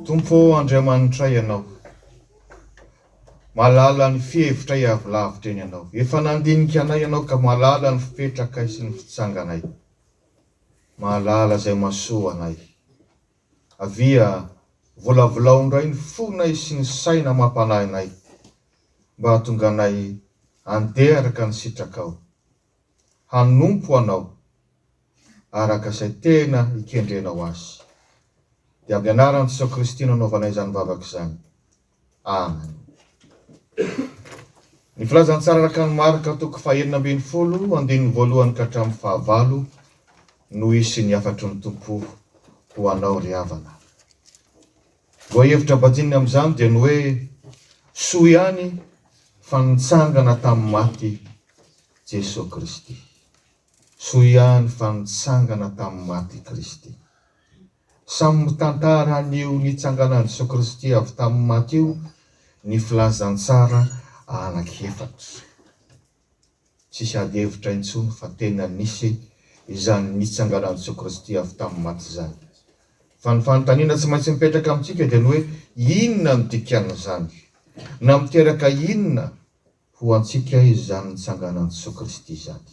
Tompo ô Andriamanitra Ianao, mahalala ny fihevitray avy lavitra eny Ianao. Efa nandinika anay Ianao ka mahalala ny fipetrakay sy ny fitsanganay. Mahalala izay mahasoa anay. Avia, volavolao indray ny fonay sy ny saina mampanahy anay, mba hahatonganay handeha araka ny sitrakao, hanompo Anao araka izay tena ikendrenao azy. Dia amin'ny anaran'i Jesoa Kristy no anaovanay izany vavaka izany. Amen. Ny filazantsara araka ny Marka toko fahenina ambin'ny folo andininy voalohany ka hatramin'ny fahavalo no hisy ny hafatry ny Tompo ho anao ry havana. Lohahevitra bajinina amin'izany dia ny hoe soa ihany fa nitsangana tamin'ny maty Jesoa Kristy. Soa ihany fa nitsangana tamin'ny maty Kristy. Samy mitantara an'io nitsanganan'i Jesoa Kristy avy tamin'ny maty io ny Filazantsara anankiefatra. Tsisy ady hevitra intsony fa tena nisy izany nitsanganan'i Jesoa Kristy avy tamin'ny maty izany. Fa ny fanontaniana tsy maintsy mipetraka amintsika dia ny hoe inona no dikan'izany? Na miteraka inona? Ho antsika izany nitsanganan'i Jesoa Kristy izany.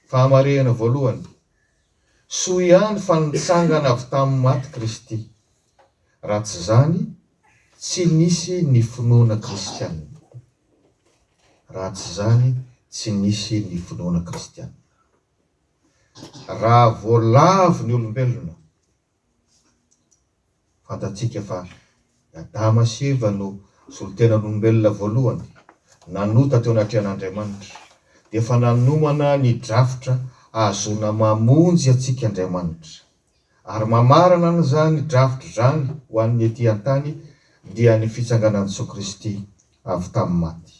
Fahamarehana voalohany, soa ihany fa nitsangana avy tamin'ny maty Kristy, raha tsy izany tsy nisy ny finoana kristiana. Raha tsy izany tsy nisy ny finoana kristiana. Raha voalavo ny olombelona Fantatsika fa i Adama sy Eva no solontenan'olombelona voalohany nanota teo anatrehan'Andriamanitra, dia efa nanomana ny drafitra hahazoana mamonjy antsika Andriamanitra. Ary mamarana an'izany drafitra izany ho an'ny ety an-tany dia ny fitsanganan'i Jesoa Kristy avy tamin'ny maty.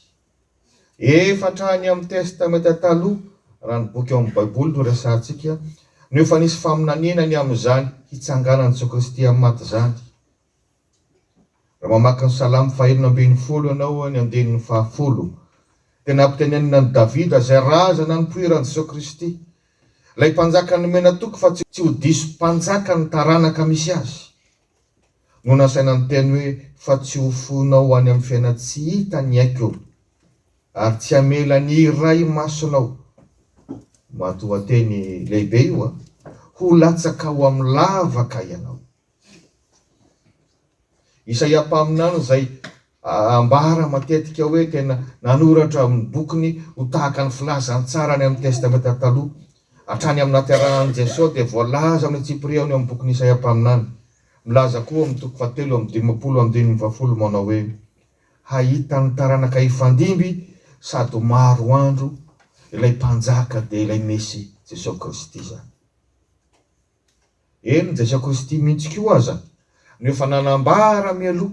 Efa hatrany amin'ny Testamenta Taloha, raha ny boky ao amin'ny Baiboly no resahantsika, no efa nisy faminaniana ny amin'izany hitsanganan'i Jesoa Kristy amin'ny maty izany. Raha mamaky ny Salamo fahenina ambin'ny folo ianao, ny andininy fahafolo, dia nampitenenina an'i Davida izay razana nipoiran'i Jesoa Kristy, ilay Mpanjaka nomena toky fa tsy ho diso mpanjaka ny taranaka misy azy. no nasaina niteny hoe, Fa tsy ho fohinao any amin'ny fiainan-tsy hita ny aiko, ary tsy hamela ny iray masonao, matoanteny lehibe io a, ho latsaka ao amin'ny lavaka ianao. Isaia mpaminany izay Ambara matetika hoe tena nanoratra ny bokiny ho tahaka ny filazany tsara any amin'ny Testamenta Taloha. Hatrany amin'ny nahaterahan'i Jesoa dia voalaza ny tsipiriany eo amin'ny bokin'i Isaia mpaminany. Milaza koa ao amin'ny toko fahatelo amby dimampolo andininy fahafolo manao hoe, Hahita ny taranaka hifandimby sady ho maro andro ilay Mpanjaka dia ilay Mesia, Jesoa Kristy izany. Eny, Jesoa Kristy mihitsy koa aza no efa nanambara mialoha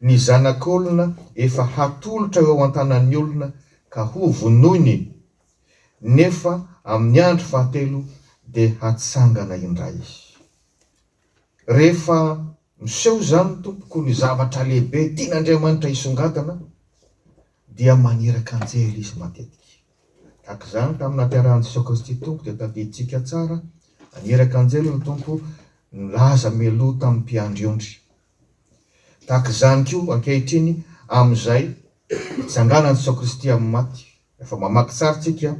ny Zanak'olona efa hatolotra eo an-tanan'ny olona ka hovonoiny, nefa amin'ny andro fahatelo dia hatsangana indray. Rehefa miseho izany, tompoko, ny zavatra lehibe tian'Andriamanitra hisongadina, dia maniraka anjely Izy matetika. Tahaka izany tamin'ny nahaterahan'i Jesoa Kristy Tompo, dia tadidintsika tsara, naniraka anjely ny Tompo nilaza mialoha tamin'ny mpiandry ondry. Tahaka izany koa ankehitriny amin'izay hitsanganan'i Jesoa Kristy amin'ny maty. Rehefa mamaky tsara isika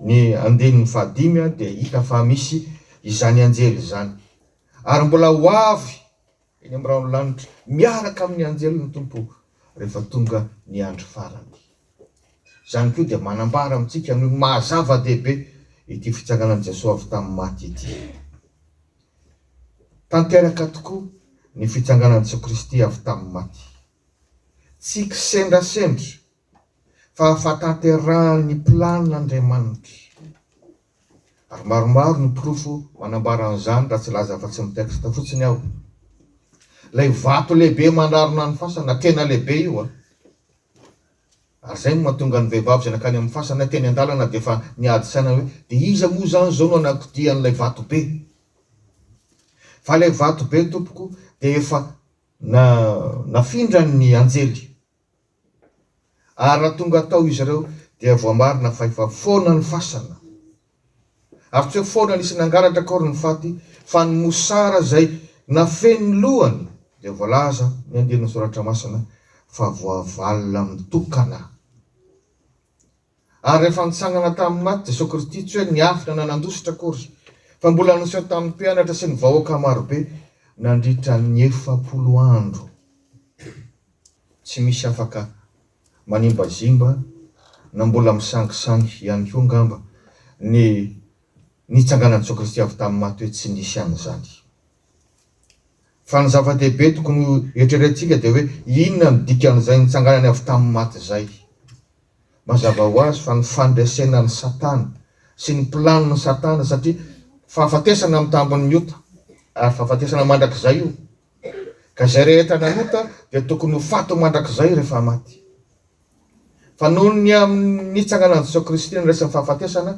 ny andininy fahadimy dia hita fa misy izany anjely izany. Ary mbola ho avy eny amin'ny rahon'ny lanitra miaraka amin'ny anjely ny Tompo rehefa tonga ny andro farany. Izany koa dia manambara amintsika ny maha-zava-dehibe ity fitsanganan'i Jesoa avy tamin'ny maty ity. Tanteraka tokoa ny fitsanganan'i Jesoa Kristy avy tamin'ny maty. Tsy kisendrasendra fa fahatanterahan'ny planin'Andriamanitra. Ary maromaro ny porofo manambara an'izany raha tsy laza afa-tsy ny texte fotsiny aho. Ilay vato lehibe mandrarona ny fasana, tena lehibe io a! Ary izay no mahatonga ny vehivavy izay nankany amin'ny fasana teny an-dalana dia efa niady saina hoe, dia iza moa izany izao no hanakodia an'ilay vato be? Fa ilay vato be, tompoko, dia efa nafindran'ny anjely. Ary raha tonga tao izy ireo, dia voamarina fa efa foana ny fasana. Ary tsy eo foana nisy nangalatra akory ny faty, fa ny mosara izay nafehy ny lohany, dia voalaza ny andian'ny Soratra Masina fa voavalona mitokana. Ary rehefa nitsangana tamin'ny maty Jesoa Kristy, tsy hoe niafina na nandositra akory, fa mbola niseho tamin'ny mpianatra sy ny vahoaka marobe nandritra ny efapolo andro. Tsy misy afaka manimbazimba na mbola misangisangy ihany koa angamba ny nitsanganan'i Jesoa Kristy avy tamin'ny maty hoe tsy nisy an'izany. Fa ny zava-dehibe tokony ho eritreretintsika dia hoe inona no dikan'izay nitsanganany avy tamin'ny maty izay. Mazava ho azy fa ny fandresena an'i Satana sy ny planon'i Satana satria fahafatesana amin'ny tambin'ny ota ary fahafatesana mandrakizay io Ka izay rehetra nanota dia tokony ho faty mandrakizay rehefa maty. Fa noho ny amin'ny nitsanganan'i Jesoa Kristy ny resin'ny fahafatesana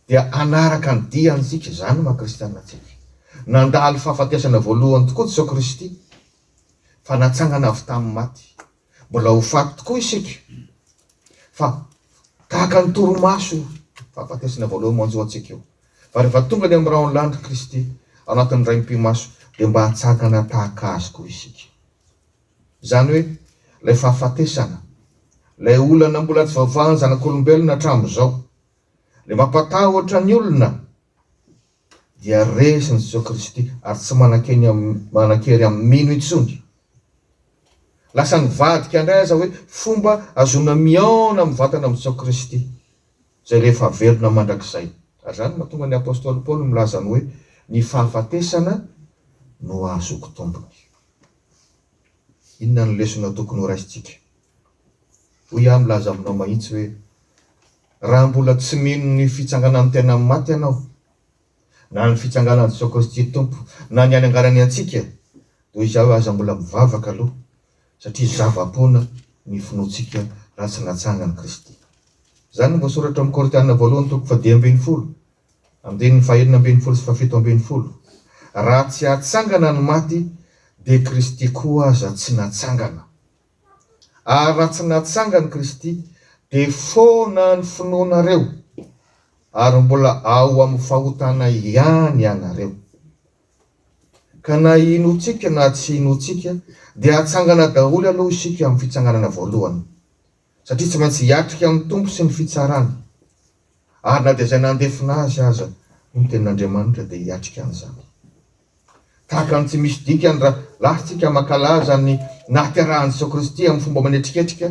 dia hanaraka ny diany isika, izany no maha-kristianina antsika. Nandalo fahafatesana voalohany tokoa Jesoa Kristy fa natsangana avy tamin'ny maty. Mbola ho faty tokoa isika fa tahaka ny torimaso io fahafatesana voalohany manjo antsika io. Fa rehefa tonga ny amin'ny rahon'ny lanitra Kristy ao anatin'ny raim-pimaso dia mba hatsangana tahaka Azy koa isika. Izany hoe ilay fahafatesana, ilay olana mbola tsy voavahan'ny zanak'olombelona hatramin'izao, ilay mampatahotra ny olona, dia resin'i Jesoa Kristy ary tsy manan-kery amin'ny mino intsony. Lasa nivadika indray aza hoe fomba ahazoana mihaona amin'ny vatana amin'i Jesoa Kristy izay rehefa velona mandrakizay. Ary izany no mahatonga ny apostoly Paoly milaza ny hoe ny fahafatesana no ahazoako tombony. Inona no lesona tokony horaisintsika Hoy aho milaza aminao mahitsy hoe, Raha mbola tsy mino ny fitsanganan'ny tena amin'ny maty ianao, na ny fitsanganan'i Jesoa Kristy Tompo, na ny hananganany antsika, toy izao hoe aza mbola mivavaka aloha, satria zava-poana ny finoantsika raha tsy natsangan'i Kristy. Izany no voasoratra ao amin'ny Korintiana voalohany toko fahadimy ambin'ny folo, andininy fahenina ambin'ny folo sy fahafito ambin'ny folo, Raha tsy hatsangana ny maty, dia Kristy koa aza tsy natsangana. Ary raha tsy natsangany Kristy, dia foana ny finoanareo, ary mbola ao amin'ny fahotana ihany ianareo. Ka na inoantsika na tsy inoantsika, dia hatsangana daholo aloha isika amin'ny fitsanganana voalohany, satria tsy maintsy hiatrika amin'ny Tompo sy ny fitsarany, ary na dia izay nandefona azy aza ny tenin'Andriamanitra dia hiatrika an'izany. Tahaka ny tsy misy dikany raha latsaka mankalaza ny nahaterahan'i Jesoa Kristy amin'ny fomba manetriketrika,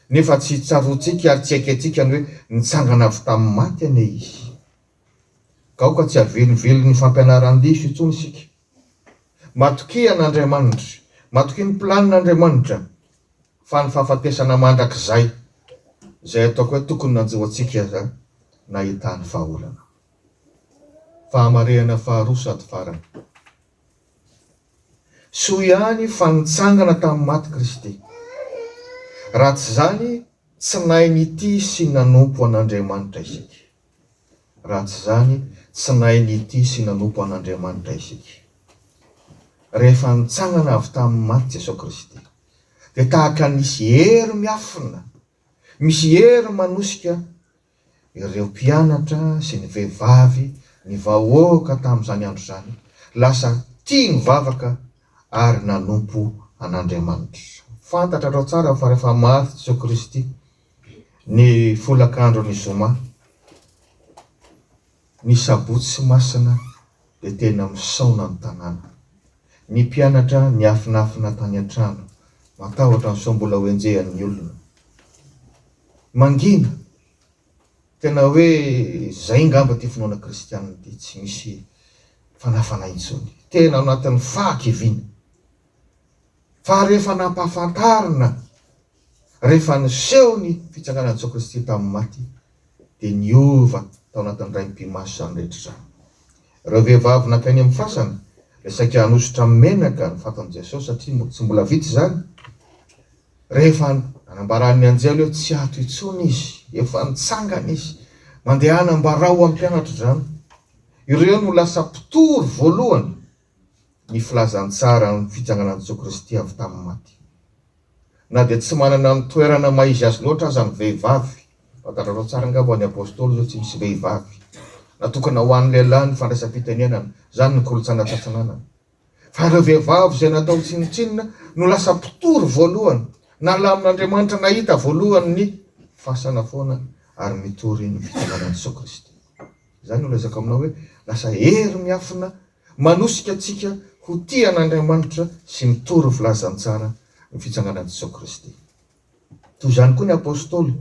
nefa tsy tsaroantsika ary tsy aikentsika ny hoe nitsangana avy tamin'ny maty anie Izy. Gaoka tsy havelivelon'ny fampianaran-diso intsony isika. Matokia an'Andriamanitra, matokia ny planin'Andriamanitra, fa ny fahafatesana mandrakizay, izay ataoko hoe tokony nanjo antsika izany, nahitany vahaolana. Fahamarehana faharoa sady farany. Soa ihany fa nitsangana tamin'ny maty Kristy. Raha tsy izany, tsy nahay nitia sy nanompo an'Andriamanitra isika. Raha tsy izany, tsy nahay nitia sy nanompo an'Andriamanitra isika. Rehefa nitsangana avy tamin'ny maty Jesoa Kristy, dia tahaka ny nisy hery miafina, misy hery manosika ireo mpianatra sy ny vehivavy, ny vahoaka tamin'izany andro izany, lasa tia nivavaka ary nanompo an'Andriamanitra. Fantatrareo tsara fa rehefa maty Jesoa Kristy ny folakandron'ny Zoma, ny Sabotsy Masina dia tena misaona ny tanàna. Ny mpianatra niafinafina tany an-trano. Matahotra sao mbola hoenjehan'ny olona. Mangina! Tena hoe izay ngamba ity finoana kristianina ity, tsy misy fanafana intsony. Tena ao anatin'ny fahakiviana. Fa rehefa nampahafantarina Rehefa niseho ny fitsanganan'i Jesoa Kristy tamin'ny maty, dia niova tao anatin'ny raim-pimaso izany rehetra izany. Ireo vehivavy nankany amin'ny fasana, dia saika hanosotra amin'ny menaka ny fatin'i Jesoa, satria tsy mbola vita izany, rehefa nanambaran'ny anjely hoe, Tsy ato intsony Izy, efa nitsangana Izy. Mandehana ambarao amin'ny mpianatra izany. Ireo no lasa mpitory voalohany. ny filazantsaran'ny fitsanganan'i Jesoa Kristy avy tamin'ny maty. Na dia tsy manana ny toerana maha-izy azy loatra aza ny vehivavy, fantatrareo tsara angamba fa ny Apôstôly izao tsy misy vehivavy, natokana ho an'ny lehilahy ny fandraisam-pitenenana, izany ny kolontsaina antsatsinanana. Fa ireo vehivavy izay natao tsinontsinona no lasa mpitory voalohany, nalamin'Andriamanitra nahita voalohany ny fasana foana ary nitory ny fitsanganan'i Jesoa Kristy. Izany no lazaiko aminao hoe, lasa hery miafina manosika antsika ho tia an'Andriamanitra sy mitory filazantsara ny fitsanganan'i Jesoa Kristy. Toy izany koa ny Apostoly,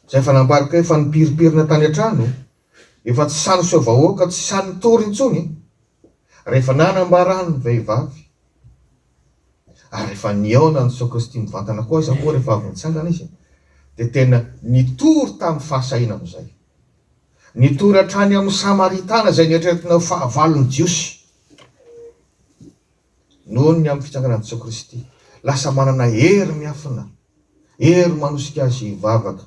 izay efa nambarika hoe efa nipirimpirina tany an-trano, efa tsy sahy niseho vahoaka, tsy sahy nitory intsony. Rehefa nanambara ahy ny vehivavy, ary rehefa nihaona ny sacristie mivantana koa aza moa rehefa avy nitsangana izy, dia tena nitory tamin'ny fahasahiana amin'izay. Nitory hatrany amin'ny Samaritana izay neritreretina ho fahavalon'ny Jiosy. Noho ny amin'ny fitsanganan'i Jesoa Kristy, lasa manana hery miafina, hery manosika azy hivavaka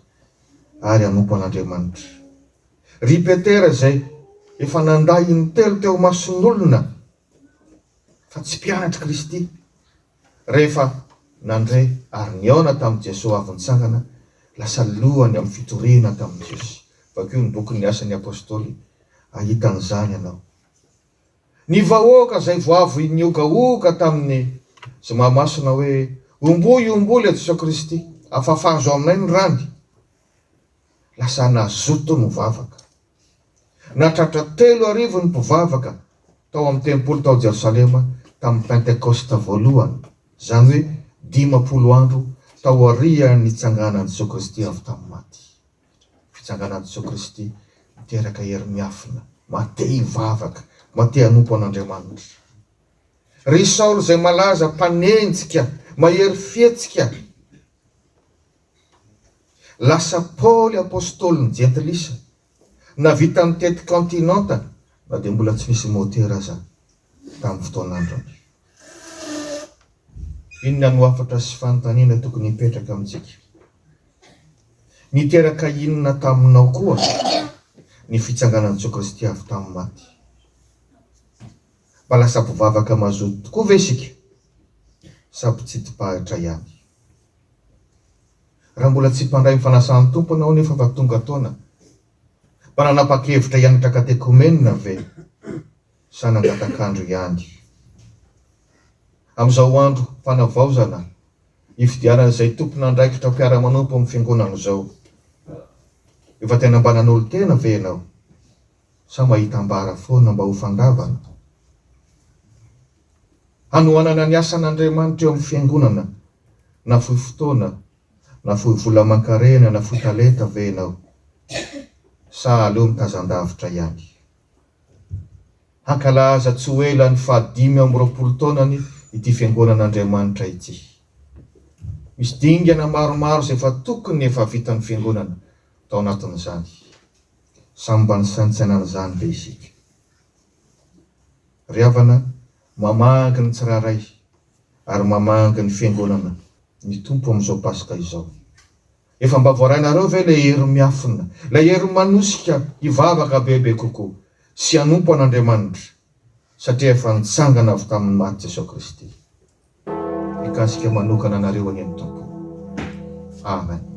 ary hanompo an'Andriamanitra. Ry Petera izay efa nandà in-telo teo imason'olona fa tsy mpianatr'i Kristy, rehefa nandre ary nihaona tamin'i Jesoa avy nitsangana, lasa lohany amin'ny fitoriana tamin'i Jesosy. Vakio ny bokin'ny Asan'ny Apostoly, hahita an'izany ianao. Ny vahoaka izay voavoin'ny ogaoga tamin'ny Zoma Masina hoe, Omboy, omboy ilay Jesoa Kristy, afafazo aminay ny rany! Lasa nazoto ny vavaka. Nahatratra telo arivo ny mpivavaka tao amin'ny tempoly tao Jerosalema tamin'ny Pentekosta voalohany, izany hoe dimampolo andro taorian'ny nitsanganan'i Jesoa Kristy avy tamin'ny maty. Fitsanganan'i Jesoa Kristy miteraka hery miafina maha te hivavaka, maha te hanompo an'Andriamanitra. Ry Saoly izay malaza mpanenjika, mahery fihetsika, lasa Paoly Apostolin'ny Jentilisa, navita nitety kaontinanta na dia mbola tsy nisy môtera aza tamin'ny fotoana andrana. Inona no hafatra sy fanontaniana tokony hipetraka amintsika? Niteraka inona taminao koa ny fitsanganan'i Jesoa Kristy avy tamin'ny maty? Mba lasa mpivavaka mazoto tokoa ve isika sa mpitsidim-pahitra ihany? Raha mbola tsy mpandray ny fanasan'ny Tompo ianao nefa efa tonga taona, mba nanapa-kevitra hianatra katekomenina ve? zana-datakandro ihany. Amin'izao andro fanavaozana ifidianan'izay tompon'andraikitra mpiara-manompo amin'ny Fiangonana izao, efa tena mba nanolo-tena ve ianao sa mahita ambara foana mba ho fandavana? Hanohanana ny asan'Andriamanitra eo amin'ny Fiangonana nafoy fotoana, nafoy vola aman-karena, nafoy talenta ve ianao sa aleo mitazan-davitra ihany? Hankalaza tsy ho ela ny fahadimy amby roapolo taonany ity Fiangonan'Andriamanitra ity. Misy dingana maromaro izay efa tokony efa vitan'ny Fiangonana tao anatin'izany. Samy mba nisaintsaina an'izany ve isika? Ry havana, mamangy ny tsirairay ary mamangy ny Fiangonana ny Tompo amin'izao Paska izao. Efa mba voarainareo ve ilay hery miafina, ilay hery manosika hivavaka bebe kokoa sy hanompo an'Andriamanitra satria efa nitsangana avy tamin'ny maty Jesoa Kristy? Mikasika manokana anareo anie ny Tompo. Amen.